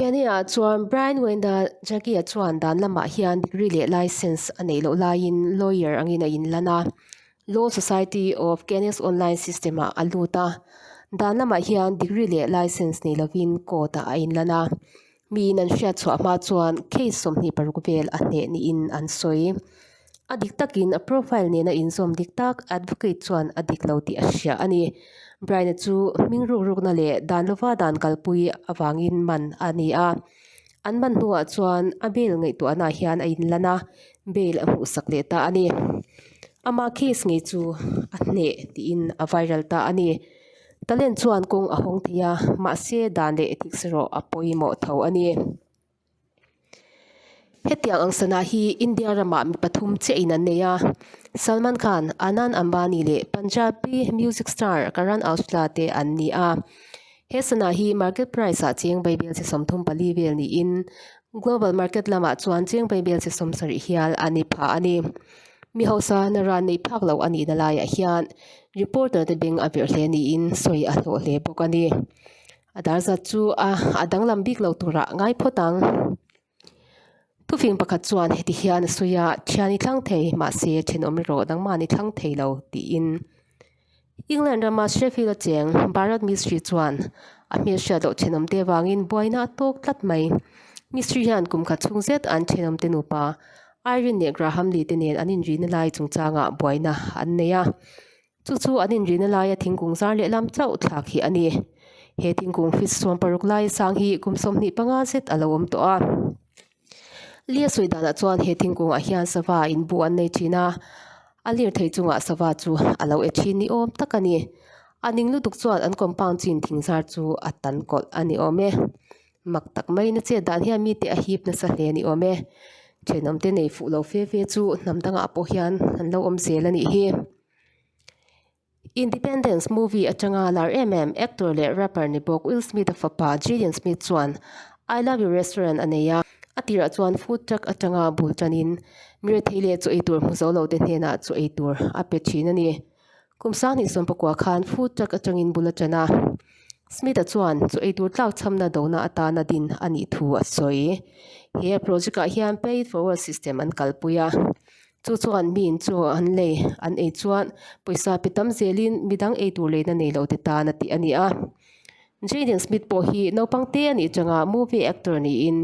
Kenya-a chuan Brian Wenda Jaggi-a chuan dan lamah hian degree leh licence a neih loh laiin lawyer angin a inlan a. Law Society of Canis online system-ah a lut a, dan lamah hian degree leh licence nei lovin court-ah a inlan a, miin an hriatchhuah hma chuan case sawmhnih paruk vel a hneh niin an sawi. A dik takin a profile nena inzawm dik tak advocate chuan a dik lo tih a hria a ni. Bryna chu hming rukrukna leh dan lova dan kalpui avangin man a ni a, An man hnuah chuan a bel ngaihtuahnaah hian a in lan a, bel a hmuhsak leh ta a ni. Ama case ngei chu a hneh tiin a viral ta a ni. Talent chuan kawng a hawng thei a, mahse dan leh thiksawrawh a pawimawh tho a ni. Hetiang ang sana hi India ramah mi pathum chiahin an nei a, Salman Khan, Anand Ambani leh Punjabi music star Karan Aujla te an ni a. He sana hi market price ah chêng beibel chi sawmthum pali vel niin global market lamah chuan chêng beibel chi sawm sarih hial a ni phah a ni. Mi hausa na ran neih phak loh a nihna laiah hian reporter te beng a verh hle niin sawi a hlawh hle bawk a ni. A dar zat chu a a danglam bik lo turah ngai phawt ang. Thufing pakhat chuan heti hian a sawi a, Thian i thlang thei, mahse then awm rero, nangmahni thlang thei lo, tiin. England rama Sheffield acheng Bharat Mistri chuan a hmeichhia doh thenawm te avangin buaina a tawk tlat mai. Mistri hian kum khat chhung zet an thenawmte nupa Irene leh Graham Lee te nen an inrihna lai chungchangah buaina an nei a. Chu chu an inrihna laia thingkung zar leh lam chauh thlak hi a ni. He thingkung fis suam paruk laia sang hi kum sawmhnih panga zet a lo awm tawh a. Lia sawi danah chuan he thingkungah hian sava in bu an nei thin a. A lir thei chungah sava chu a lo e thin ni awm tak a ni. A ning lutuk chuan an compund chin thing zar chu a tan kawlh a ni awm e. Mak tak mai na che dan hian mite a hip nasa hle ni awm e. Thenawm te nei fuh lo fe fe chu hnam dangah pawh hian an lo awm zel a nih hi. Independence movie atanga lar em em actor leh rapper ni bawk Will Smith a fapa Jaden Smith chuan I Love You Restaurant a nei a. A tirah chuan food truck atanga bul tanin mi rethei leh chaw ei tur hmu zo lote hnenah chaw ei tur a pe thin a ni. Kum sangni sawm pakua khan food truck atangin bula tan a, Smith-a chuan chu eitur tlak chhamna dona atana din a nih thu a sawi. He project-ah hian pay it forward system an kalpui a, chu chuan miin chu an lei an ei chuan pawisa pe tam zelin midang eitur leina nei lo te tan a tih a ni a. Jaden Smith pawh hi naupang te a nih changa movie actor niin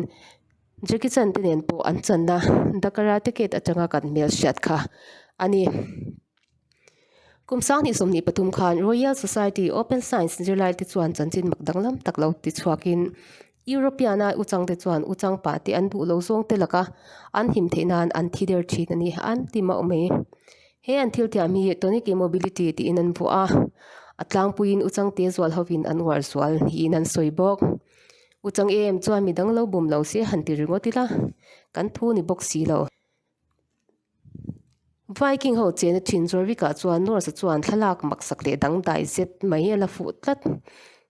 Jackie Chan te nen pawh an channa The Karate Kid atanga kan hmel hriat kha a ni. Kum sang hnih sawmhnih pathum khan Royal Society Open Science zirlai te chuan chanchin mak danglam tak lo ti chhuak in European a u chang te chuan u chang pah te an duh lo zawng te laka an him theih nan an thi der thin a ni an ti mauh mai. He an thil tiam hi tonic immobility tiin an vuah a, a tlangpui in u chang te zual ho in an uar zual niin an sawi bawk. U chang em chuan mi danglo bum lo se han ti ringawt ila kan thu ni bawk si lo. Viking ho chena thin zuar bik ah chuan Norse a chuan thlalak maksak leh dangdai zet mai a la fuh tlat.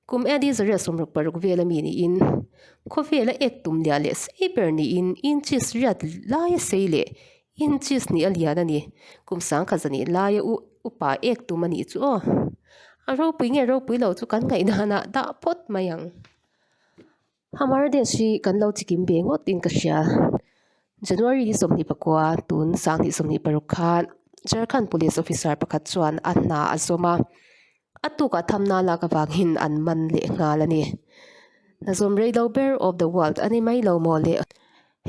Kum Eddie Izrael sawmruk paruk vel a mi niin khawvel a ek tum liah leh sei ber niin inches riat lai a sei leh inches nih a lian a ni. Kum sangkhat za nih laia u upa ek tum a nih chu aw. A ropui nge ropui lo chu kan ngaih nanah dah phawt mai ang. Hamar days hi kan lo chikim ve ngawt in ka hria. January ni sawmhnih pakua tun sang hnih sawmhnih paruk khan Jharkhand police officer pakhat chuan a hna a zawm a, a tukah tham nan lak avangin an man leh nghal a ni. Hna zawm rei lo ber of the world a ni mai lo maw le?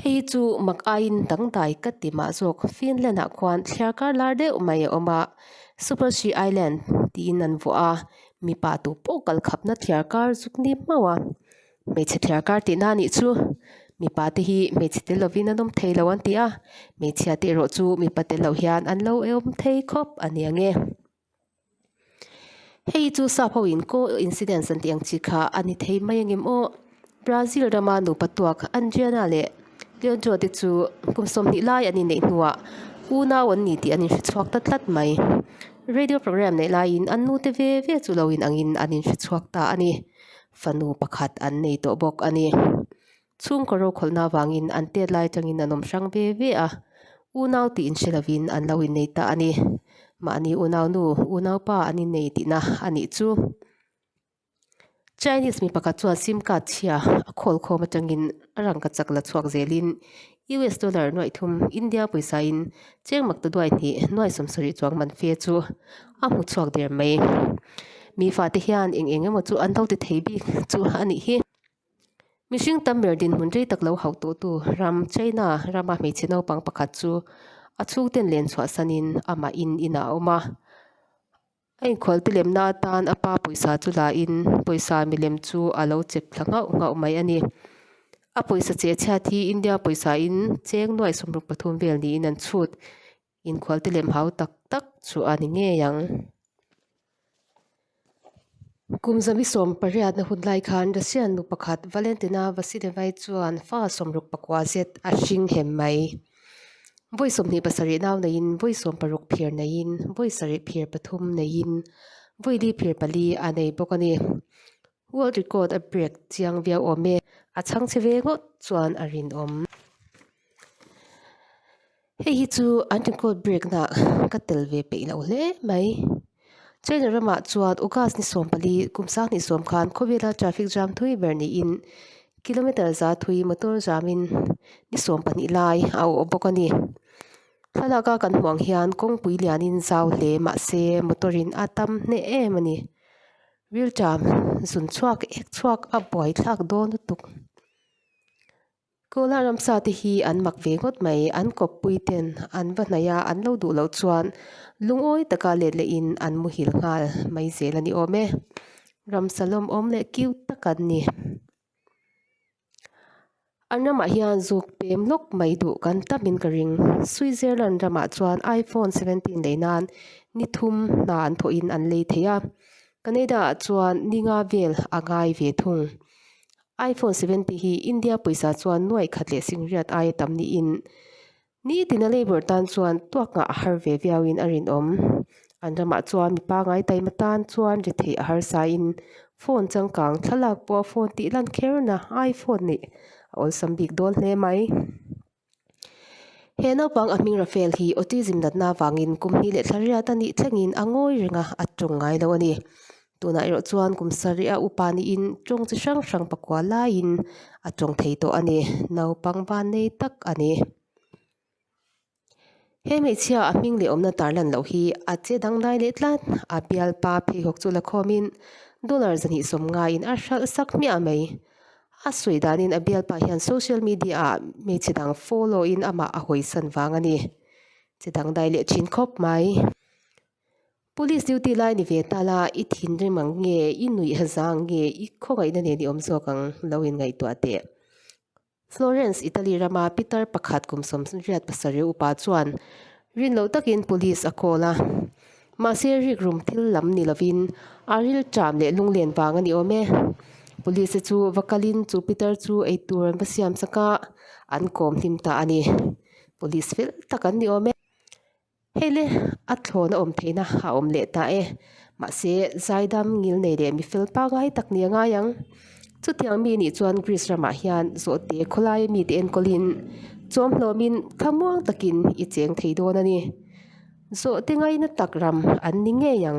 Hei chu mak aiin dangdai ka ti mah zawk, Finland-ah khuan thliar kar lar deuh mai a awm a, Super Sea Island tiin an vuah a, mipa tu pawh kal khapna thliar kar zuk ni hmau a, hmeichhe thliar kar tihna anih chu, mipa te hi hmeichhe te lovin an awm thei lo an ti a, hmeichhia te erawh chu mipa te lo hian an lo awm thei khawp a nia nge. Hei chu sakho in coincidence an tih ang chi kha a ni thei mai angem aw. Brazil rama nupa tuak Adriana leh Leandro te chu kum sawmhnih lai an inneih hnuah u nau an ni tih an inhrechhuak ta tlat mai. Radio programme neih laiin an nute ve ve chu lo inangin an inhrechhuak ta a ni. Fanu pakhat an nei tawh bawk a ni. Chhungkaw rokhawlna avangin an tet lai atangin an awm hrang ve ve a, unau tih inhre lovin an lo innei ta a ni. Mahni unau nu, unau pa an innei tihna a nih chu. Chinese mi pakhat chuan sim card chhia a khawl khawm atangin a rangka chak la chhuak zelin US dollar nuaih thum India pawisa-in cheng mak ta duai hnih nuaih sawmsaw rih chuang man fe chu a hmu chhuak der mai. Mi fate hian eng eng emaw chu an lo ti thei bik chu a nih hi. Mihring tam ber dinhmun rei tak lo hauh tawhtu ram China rama hmeichhe naupang pakhat chu a chhungten len chhuahsanin amah in inah a awm a. A inkhual tilemna atan a pa pawisa chu lahin pawisa milem chu a lo chep thla nghauh nghauh mai a ni. A pawisa cheh a chhiat hi India pawisa in cheng nuai sawmruk pathum vel niin an chhut. Inkhualte lem hau tak tak chu a ni ngei ang. Kum zami sawm pariatna hun lai khan Russian nu pakhat Valentina Vasilevai chuan fa sawm ruk pakua zet a hring hem mai. Vawi sawmhnih pasarih nau neiin, vawi sawm paruk phir neiin, vawi sarih phir pathum neiin, vawi li phir pali a nei bawk a ni. World record a break chiang viau awm e. A chhang che ve ngawt chuan a rinawm. Hei hi chu an record break na ka tel ve peih loh hle mai. China ram ah chuan August ni sawm pali kum sang hnih sawm khan khawvel a traffic jam thui ber ni in kilometer za thui motor jam in ni sawm pahnih lai a awh bawk a ni. Thlalak a kan hmuh ang hian kawngpui lian in zau hle mahse motor in a tam hneh em a ni. Rilṭam zun chhuak ek chhuak a buai thlak dawn lutuk. Cola ram sa te hi an mak ve ngawt mai. An kawppui ten an va hnaih a, an lo duh loh chuan lungawi taka let leh in an muhil nghal mai zel a ni awm e. Ram sa lawm awm leh kiu tak an ni. An ramah hian zuk pem lawk mai duh kan tam in ka ring. Switzerland ramah chuan iPhone seventeen lei nan ni thum hna an thawh in an lei thei a. Canada ah chuan ni nga vel a ngai ve thung. Iphone seventy hi India pawisa chuan nuaih khat leh singriat aia tam niin, ni tina Labour tan chuan tuak ngah a har ve viauin a rinawm. An ramah chuan mi pangngai taima tan chuan ri theih a harsain phone changkang thlalak pawha phone tih lan kher na iPhone nih a awlsam bik dawn hle mai. He naupang a hming Rafael hi autism natna avangin kum hnih leh thla riat a nih thlengin a ngawi reng a, a ṭawng ngai lo a ni. Tunah erawh chuan kum sarihah upa niin ṭawng chi hrang hrang pakua laiin a ṭawng thei tawh a ni. Naupang vannei tak a ni. He hmeichhia a hming leh awmna tarlan loh hi a che dangdai leh tlat. A bial pa pheikhawk chu la khawmin dollar zahnih sawm ngaiin a hral sak hmiah mai. A sawi danin a bial pa hian social media ah hmeichhe dang follow in amah a hawisan vang a ni. Che dangdai leh thin khawp mai. Police duty lai ni ve tal a, i thinrim ang nge, i nuih hazang ang nge, i khawngaihna nen i awm zawk ang lo in ngaihtuah teh. Florence, Italy rama Peter pakhat kum sawm riat pasarih upa chuan rin loh takin police a call a. Mahse rik rum thil lam ni lovin a rilṭam leh lunglen vang a ni awm e. Police-te chu va kalin chu Peter chu eitur an va siam saka an kawm hlim ta a ni. Police fel tak an ni awm e. Hei le, a thlawn a awm theihna a awm leh ta e, mahse, zaidam ngil nei leh mi fel pa ngai tak nia ngai ang. Chutiang mi nih chuan Greece ramah hian zawhte khawlai mite enkawlin chawmhlawmin thla muang takin i cheng thei dawn a ni. Zawhte ngaina tak ram an ni ngei ang.